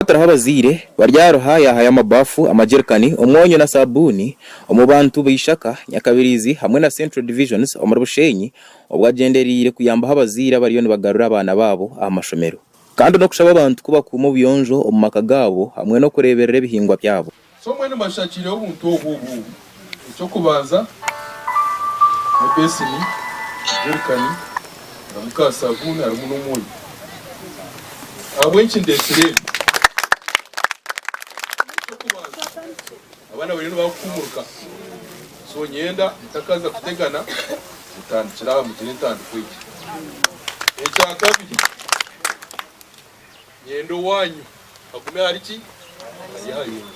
Kutariho abazaire, Baryaruha yaahayo amabaafu, amajerikani, omwonyo na saabuuni omu bantu b'eishaka, Nyakabirizi hamwe na Central Divisions omuri Bushenyi obwo agyendereire kuyambaho abazaire abariyo nibagarura abaana baabo aha mashomero kandi n'okushaba abantu ku bakuuma obuyonjo omu maka gaabo hamwe n'okureeberera ebihingwa byabo. So mbwenu mbashakiireho obuntu obu obu obu, eky'okubanza, ebeseni, jerikani, harimu ka sabuuni, harimu n'omwonyo. Ahabw'enki ndeetsire ebi? Eky'okubanza, abaana bariyo nibakuhuumuruka, so nyenda mutakaza kutegana, mutandikire aha, mugire entandikwa egyo. Ekya kabiri. Nyenda owanyu agume ahari ki? Ari ahari nyowe.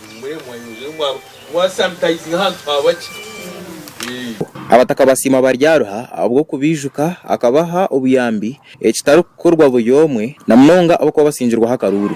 Muhumure mwanyongyera omwa mwa sanitizinga ahantu habaki? Eeh. Abataka basiima Baryaruha ahabw'okubaijuka, akabaha obuyambi, ekitarikukorwa buri omwe, na munonga abakuba basingirweho akaruuru.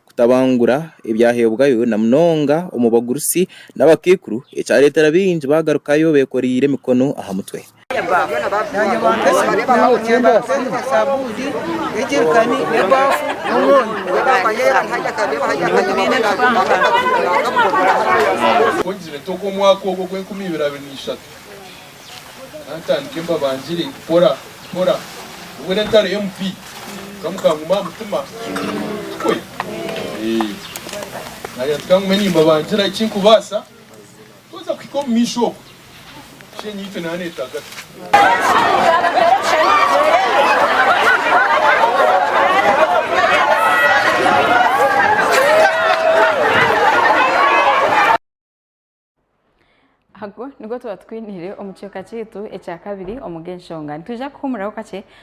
kutabangura ebyaheebwayo na munonga omu bagurusi n'abakaikuru ekyareetera baingi baagarukayo beekoreire emikono aha mutwe. Ka ntandike mbabangire mpora mpora obwo na entaro ya MP ka mukanguma aha mutima tikwe? Eeh nayenda ka ngume nimbabangira eki nkubaasa twaheza kuhika omu maisho okwo shi enyaitwe nana etaaga ta. Ago nigo tuba tukwiniire omu kicweka kyaitu ekyakabiri omu g'enshonga. Nitwija kuhuumuraho kakye